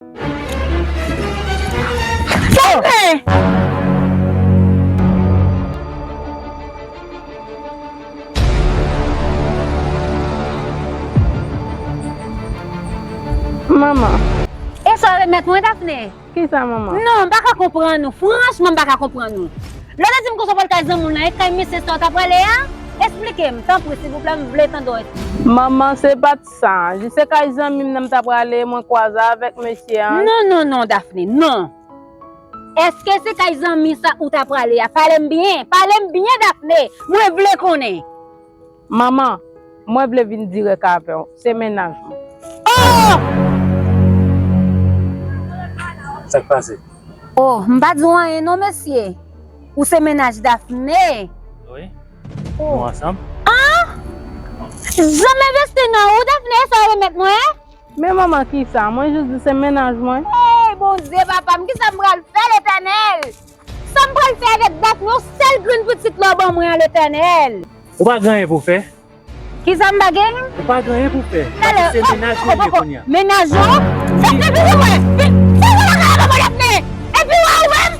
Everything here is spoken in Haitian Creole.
Manman. E sa remèt mwen Daphnée? Ki sa manman? Non, m pa ka konprann ou. Franchman m pa ka konprann ou. Lè w te di m konsa w pral kay zanmi w lan, e kay mesye sa w ta prale a? Esplike m, tanpri silvouplè m vle tande w esplike m. Manman se pa. Sa. Jis se kay zanmi m nan m ta prale, mwen kwaze avèk mesye an. Non, non, non, Daphnée, non! Èske se kay zanmi sa ou ta prale a? Pale m byen! Pale m byen, Daphnée! Mwen vle konnen! Manman, mwen vle vin dirèk avè w. Se mennaj mwen. Oh! Sa k pase? Oh, m pa di w anyen non, mesye! Ou se mennaj Daphnée? Wi. Nou ansanm? Aah! Janm envesti nan ou Daphné e sa ou remèt mwen? Men manman kisa? Mwen jis di se mennaj mwen. Hey Bondye papa m kisa m pral fè Letènèl? Sam pral fè avèk Daphné yon sèl grenn pitit la ou ban mwen an Letènèl? Ou pa gen anyen pou fè? Kisa m pa gen? Ou pa gen anyen pou fè? Paske se mennaj ou li ye kounya. Mennaj ou? Daphné vini wè! Vini wè bagay la papa Daphné! Epi wè ou menm?